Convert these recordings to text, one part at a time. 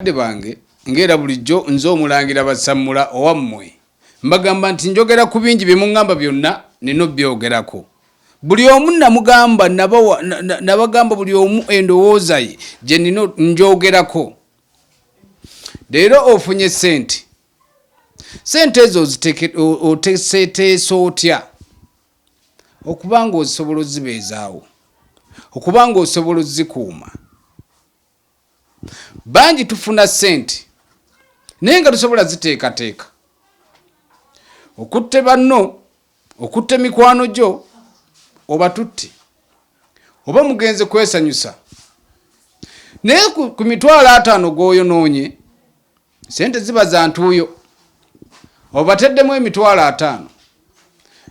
Bakadde bange, nga era bulijjo, nze Omulangira Basammula owammwe, mbagamba nti njogera ku bingi bye mungamba byonna nnina obyogerako. Buli omu nnamugamba, nnabawa, nnabagamba buli omu endowooza ye gye nnina ngyogerako. Leero ofunye ssente. Ssente ezo oziteke, oteeseteese otya okuba ng'ozisobola ozibeezaawo, okuba ng'osobola ozikuuma. bangi tufuna ssente naye nga tusobola ziteekateeka okutte banno okutte mikwano gyo oba tutti oba mugenze kwesanyusa naye ku mitwalo ataano gwoyonoonye sente ziba za ntuuyo obateddemu emitwalo ataano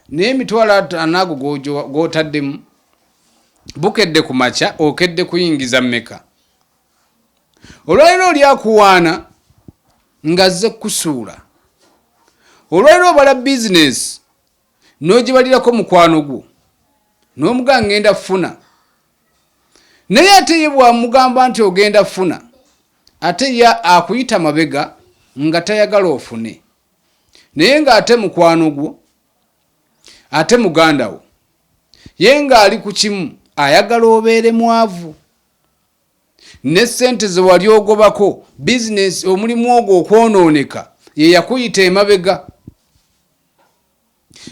naye emitwalo ataano ago gwotaddemu Bukedde ku makya okedde kuyingiza mmeka? Olwaliro oli akuwaana ng'azze kukusuula. Olwaliro obala bizinesi n'ogibalirako mukwano gwo n'omugaa ng'enda funa. Naye ate ye bw'amugamba nti ogenda funa ate ye akuyita mabega nga tayagala ofune naye ng'ate mukwano gwo. ate muganda wo ye ng'ali ku kimu ayagala obeere mwavu ne ssente ze wali ogobako bizinesi omulimu ogwo okwonooneka ye yakuyita emabega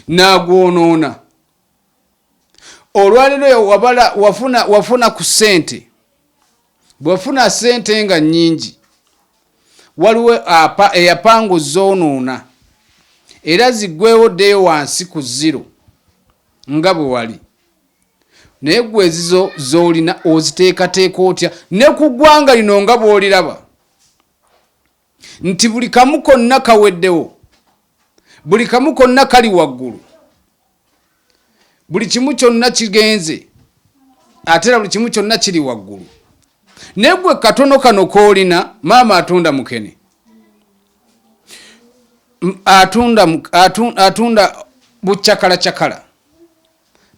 n'agwonoona olwalero wabala wafuna wafuna ku sente bwefuna sente nga nyingi waliwo apa eyapanga ozonoona era zigwewo ddeyo wansi ku ziro nga bwe wali naye gwe ezizo zolina oziteekateeka otya ne ku ggwanga lino nga bwoliraba nti buli kamu konna kaweddewo buli kamu konna kali waggulu buli kimu kyonna kigenze ate era buli kimu kyonna kiri waggulu naye gwe katono kano koolina maama atunda mukene atunda atunda bucakalacakala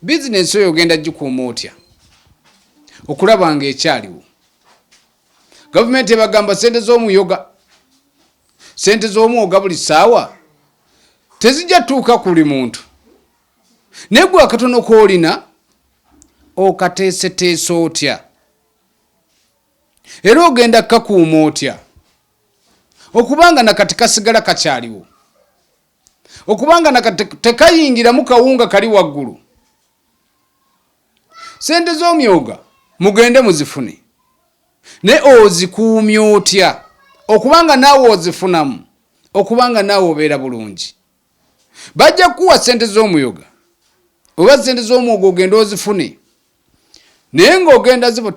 bizinensi oyo ogenda gikuuma otya okulaba nga ekyaliwo gavumenti ebagamba sente zomuyoga sente zomwoga buli saawa tezijja tuuka kuli muntu naye gwe akatono koolina okateeseteesa otya era ogenda kakuuma otya okubanga nakati kasigala kakyaliwo okubanga nakati tekayingiramu kawunga kali waggulu sente z'omyoga mugende muzifune naye ozikuumya otya okubanga naawe ozifunamu okubanga naawe obeera bulungi bajja kukuwa sente z'omuyoga oba sente z'omwoga ogenda ozifune naye ng'ogenda zibo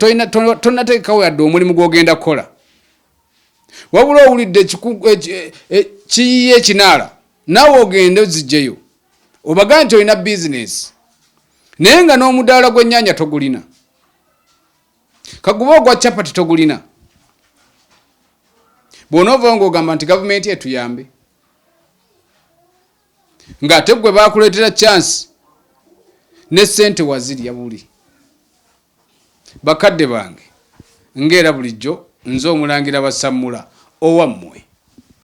tonateekawo yadde omulimu gw'ogenda kukola wabula owulidde e, e, kiyiye ekinaala naawe ogende ozijjeyo obaga nti olina bizinesi naye nga n'omudaala gw'ennyanya togulina kaguba ogwa capati togulina bw'onoovao ng'ogamba nti gavumenti etuyambe ng'ate gwe baakuleetera chansi ne sente wazirya buli bakadde bange ng'era bulijjo nze omulangira basammula owammwe